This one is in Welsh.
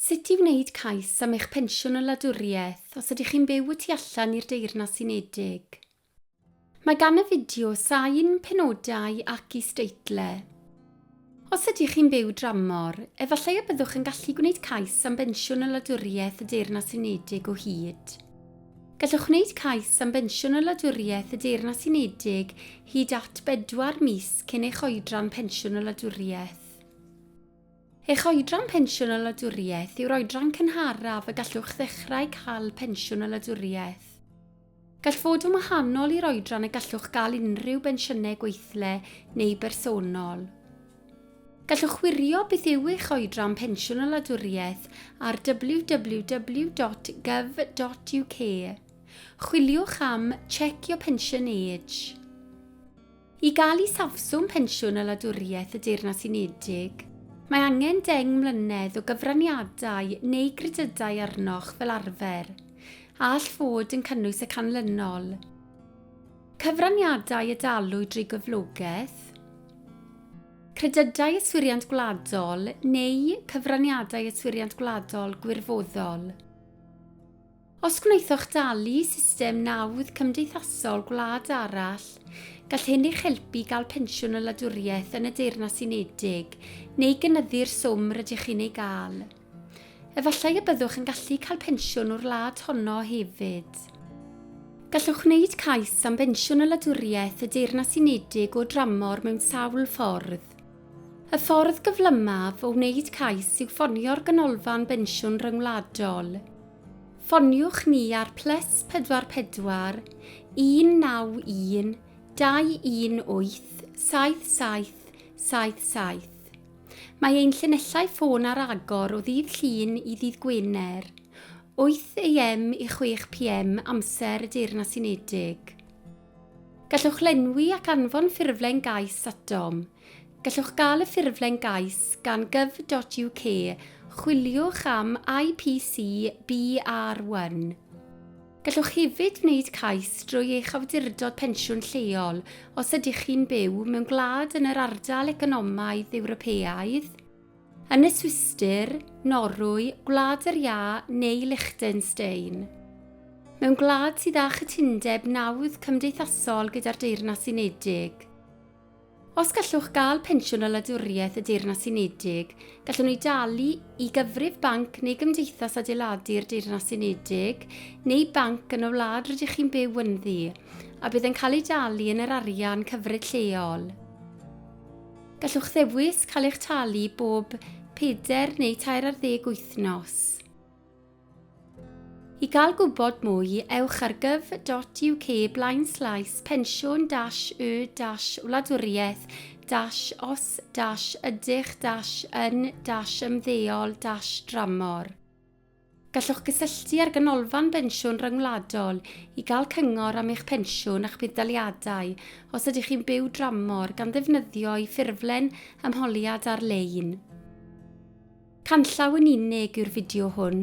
Sut i wneud cais am eich pensiwn o wladwriaeth os ydych chi'n byw y tu allan i'r Deyrnas Unedig. Mae gan y fideo sain penodau ac isdeitlau. Os ydych chi'n byw dramor, efallai y byddwch yn gallu gwneud cais am bensiwn o wladwriaeth y Deyrnas Unedig o hyd. Gallwch wneud cais am bensiwn o wladwriaeth y Deyrnas Unedig hyd at bedwar mis cyn eich oedran pensiwn o wladwriaeth. Eich oedran pensiwn o wladwriaeth yw'r oedran cynharaf y gallwch ddechrau cael pensiwn o wladwriaeth. Gall fod yn wahanol i'r oedran y gallwch gael unrhyw bensiynau gweithle neu bersonol. Gallwch wirio beth yw eich oedran pensiwn o wladwriaeth ar www.gov.uk. Chwiliwch am 'Check your pension age'. I gael isafswm pensiwn y Wladwriaeth y Deyrnas Unedig, mae angen deng mlynedd o gyfraniadau neu gredydau arnoch fel arfer, a all fod yn cynnwys y canlynol, cyfraniadau y dalu drwy gyflogaeth, credydau yswiriant gwladol neu cyfraniadau yswiriant gwladol gwirfoddol. Os gwnaethoch dalu i system nawdd cymdeithasol gwlad arall, gall hyn eich helpu i gael pensiwn y wladwriaeth yn y Deyrnas Unedig neu gynyddu'r swm rydych chi'n ei gael. Efallai y byddwch yn gallu cael pensiwn o'r wlad honno hefyd. Gallwch wneud cais am bensiwn y wladwriaeth y Deyrnas Unedig o dramor mewn sawl ffordd. Y ffordd gyflymaf o wneud cais yw ffonio'r Ganolfan Bensiwn Ryngwladol. Ffoniwch ni ar plus 44 191 218 7777. Mae ein llinellau ffôn ar agor o ddydd Llun i ddydd Gwener, 8 AM i 6 PM amser y Deyrnas Unedig. Gallwch lenwi ac anfon ffurflen gais at dom. Gallwch gael y ffurflen gais gan gov.uk, chwiliwch am IPC BR1. Gallwch hefyd wneud cais drwy eich awdurdod pensiwn lleol os ydych chi'n byw mewn gwlad yn yr Ardal Economaidd Ewropeaidd, Yn y Swistir, Norwy, Gwlad yr Iâ neu Liechtenstein. Mewn gwlad sydd â chytundeb nawdd cymdeithasol gyda'r Deyrnas Unedig. Os gallwch gael pensiwn o wladwriaeth y Deyrnas Unedig, gallwn ni dalu i gyfrif banc neu gymdeithas adeiladu'r Deyrnas Unedig neu banc yn y wlad rydych chi'n byw ynddi, a bydd yn cael ei dalu yn yr arian cyfred lleol. Gallwch ddewis cael eich talu bob pedair neu tair ar ddeg wythnos. I gael gwybod mwy, ewch ar gov.uk blaen slaes pensiwn dash y dash wladwriaeth dash os dash ydych dash yn dash ymddeol dash dramor. Gallwch gysylltu â'r Ganolfan Bensiwn Ryngwladol i gael cyngor am eich pensiwn a'ch budd-daliadau os ydych chi'n byw dramor gan ddefnyddio'u ffurflen ymholiad ar-lein. Canllaw yn unig yw'r fideo hwn.